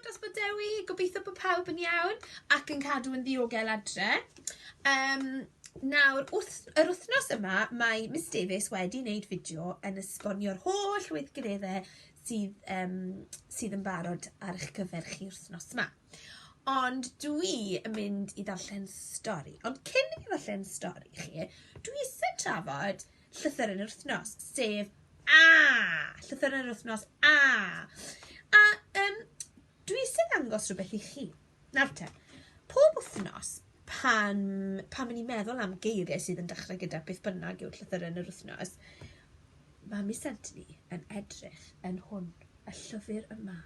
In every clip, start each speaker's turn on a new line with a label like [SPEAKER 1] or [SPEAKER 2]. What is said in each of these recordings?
[SPEAKER 1] dros bod Dewi, gobeithio bod pawb yn iawn ac yn cadw yn ddiogel adre. Um, nawr, wrth, yr wythnos yma, mae Miss Davies wedi wneud fideo yn esbonio'r holl weithgareddau sydd, um, sydd yn barod ar eich cyfer chi wythnos yma. Ond dwi yn mynd i ddarllen stori. Ond cyn i fi ddarllen stori chi, dwi eisiau trafod llythyr yn yr wythnos, sef A! Llythyr yn yr wythnos A! A um, dwi eisiau ddangos rhywbeth i chi. Nawr te, pob wythnos pan, pan mynd i'n meddwl am geiriau sydd yn dechrau gyda beth bynnag yw'r llythyr yn yr wythnos, mae mis Anthony yn edrych yn hwn, y llyfr yma,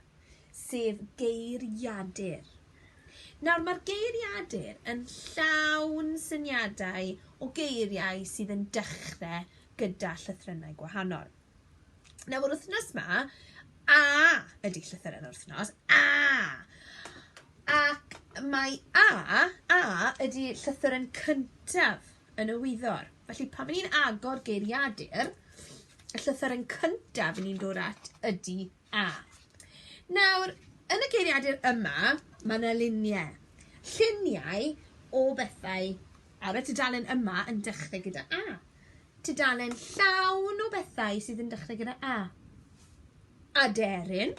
[SPEAKER 1] sef geiriadur. Nawr mae'r geiriadur yn llawn syniadau o geiriau sydd yn dechre gyda llythrennau gwahanol. Nawr yr wythnos ma, A ydy llythyren yr wythnos, A! Ac mae A, A ydy llythyren cyntaf yn y wyddor. Felly pan ni'n agor geiriadur, y llythyren cyntaf ni'n dod at ydy A. Nawr, yn y geiriadur yma, mae 'na lunie. Lluniau o bethau ar y tudalen yma yn dechrau gyda A. Tudalen llawn o bethau sydd yn dechrau gyda A. Aderyn.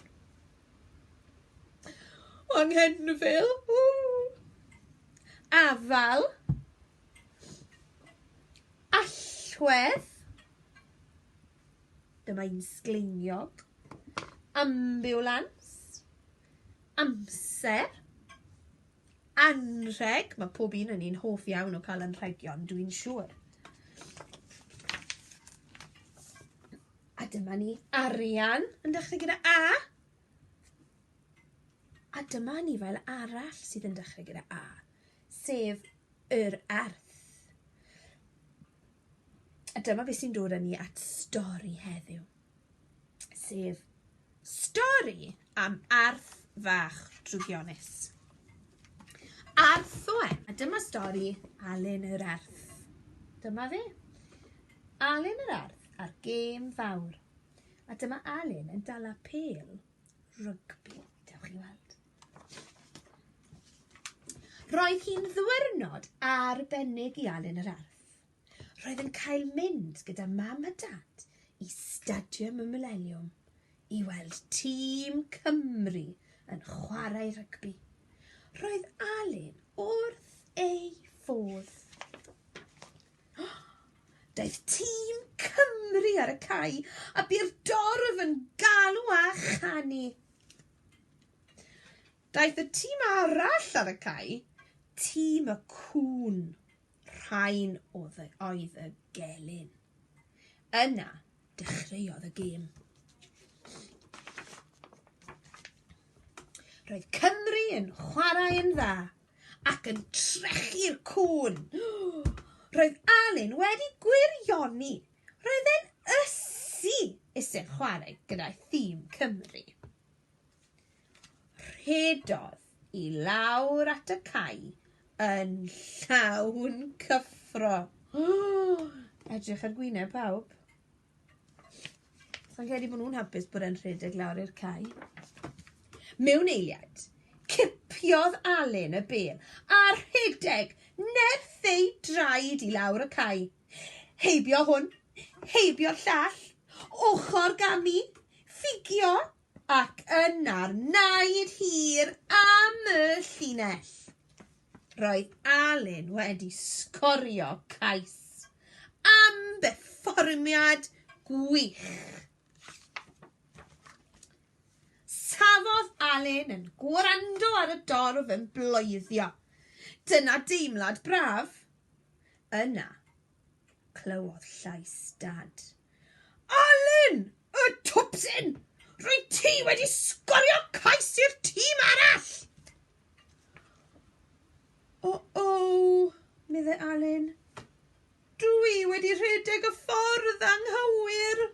[SPEAKER 1] Anghenfil. Afal. Allwedd. Dyma un sgleiniog. Ambiwlans. Amser. Anrheg. Mae pob un yn un hoff iawn o cael anrhegion, dwi'n siŵr. A dyma ni arian yn dechrau gyda A. A dyma ni fel arall sydd yn dechrau gyda A, sef yr arth. A dyma beth sy'n dod â ni at stori heddiw, sef stori am arth fach drwgionus. Arth o e, a dyma stori Alun yr Arth. Dyma fe. Alun yr Arth a'r gêm fawr. A dyma Alun yn dala pel rygbi, dewch i weld. Roedd hi'n ddiwrnod arbennig i Alun yr Arth. Roedd yn cael mynd gyda mam a dad i Stadiwm y Mileniwm i weld tîm Cymru yn chwarae rygbi. Roedd Alun wrth ei fodd. Daeth tîm Cymru ar y cae a bu'r dorf yn galw a chanu. Daeth y tîm arall ar y cae, tîm y cŵn, rhain oedd y gelyn. Yna, dechreuodd y gêm. Roedd Cymru yn chwarae yn dda ac yn trechu'r cŵn. Roedd Alun wedi gwirioni. Roedd e'n ysu iseg chwarae gyda'i thîm Cymru. Rhedodd i lawr at y cae yn llawn cyffro. Edrych ar gwyneb pawb. Sa'n credu bod nhw'n hapus bod e'n rhedeg lawr i'r cae. Mewn eiliad, cipiodd Alun y bel a rhedeg nerth ei draed i lawr y cae. Heibio hwn, heibio'r llall, ochr ganu, ffugio, ac yna'r naid hir am y llinell. Roedd Alun wedi sgorio cais am berfformiad gwych. Safodd Alun yn gwrando ar y dorf yn bloeddio. Dyna deimlad braf. Yna, clywodd llais Dad. Alun! Y twpsyn! Rwyt ti wedi sgorio cais i'r tîm arall! O-o, meddai Alun. Dwi wedi rhedeg y ffordd anghywir.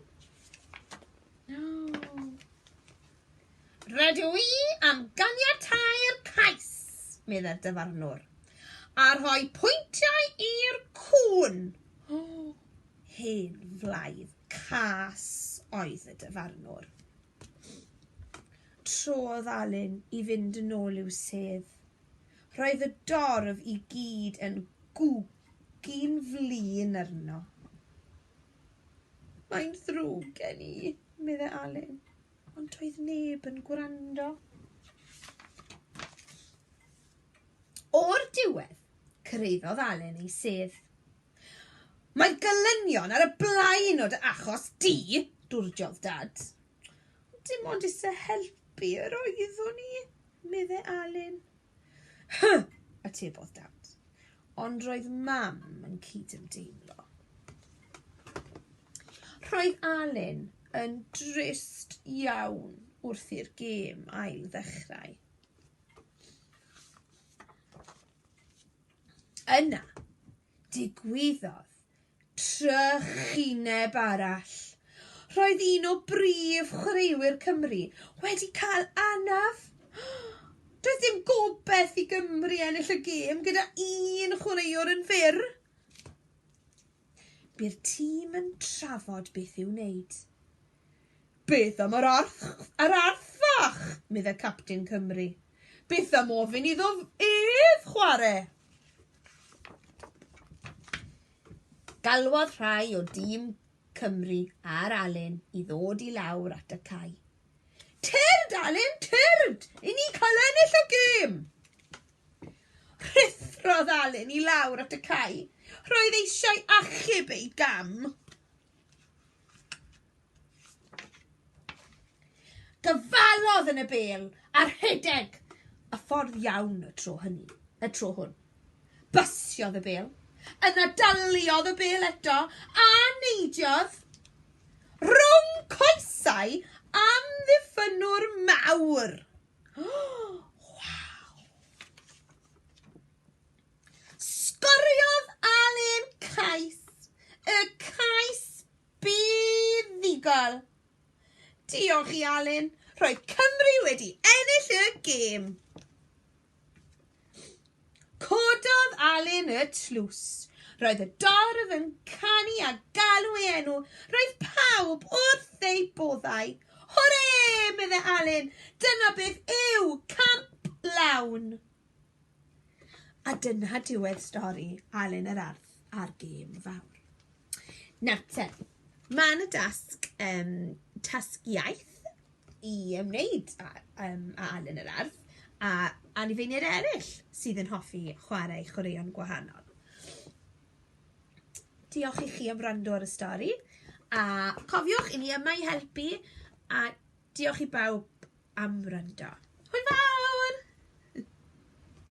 [SPEAKER 1] Rydw i am ganiatáu'r cais, meddai'r dyfarnwr, a rhoi pwyntiau i'r cŵn. Oh. Hen flaidd cas oedd y dyfarnwr. Trodd Alun i fynd yn ôl i'w sedd. Roedd y dorf i gyd yn gwgyn flin arno. Mae'n ddrwg gen i, meddai Alun, ond doedd neb yn gwrando. O'r diwedd, cyrhaeddodd Alun ei sedd. Mae gelynion ar y blaen o dy achos di, dwrdiodd Dad. Dim ond eisiau helpu yr oeddwn i, meddai Alun. Hy! atebodd Dad, ond roedd Mam yn cydymdeimlo. Roedd Alun yn drist iawn wrth i'r gêm ail ddechrau. Yna, digwyddodd trychineb arall. Roedd un o brif chwaraewyr Cymru wedi cael anaf. Doedd dim gobaith i Gymru ennill y gêm gyda un chwaraewr yn fyr. Bydd tîm yn trafod beth i'w wneud. Beth am yr arth, yr arth fach, y captain Cymru. Beth am ofyn iddo ef chwarae? Galwodd rhai o dîm Cymru ar Alun i ddod i lawr at y cae. Tyrd, Alun, tyrd! I ni cael ennill y gêm! Rhuthrodd Alun i lawr at y cae. Roedd eisiau achub ei gam. Dyfalodd yn y bêl a rhedeg y ffordd iawn y tro hynny, y tro hwn. Basiodd y bêl, yna daliodd y bêl eto a neidiodd rhwng coesau amddiffynnwr mawr. Oh! Sgoriodd Alun cais, y cais buddugol. Diolch i Alun, roedd Cymru wedi ennill y gêm. Cododd Alun y tlws. Roedd y dorf yn canu a galw ei enw. Roedd pawb wrth eu boddau. Hwre, meddai Alun, dyna beth yw camp lawn. A dyna diwedd stori Alun yr Arth a'r gêm fawr. Nawr te, mae yna dasg, um, tasg iaith i ymwneud â, um, â Alun yr Arth a anifeiniaid eraill sydd yn hoffi chwarae chwaraeon gwahanol. Diolch i chi am wrando ar y stori a cofiwch i ni yma i helpu a Diolch i bawb am wrando. Hwyl fawr!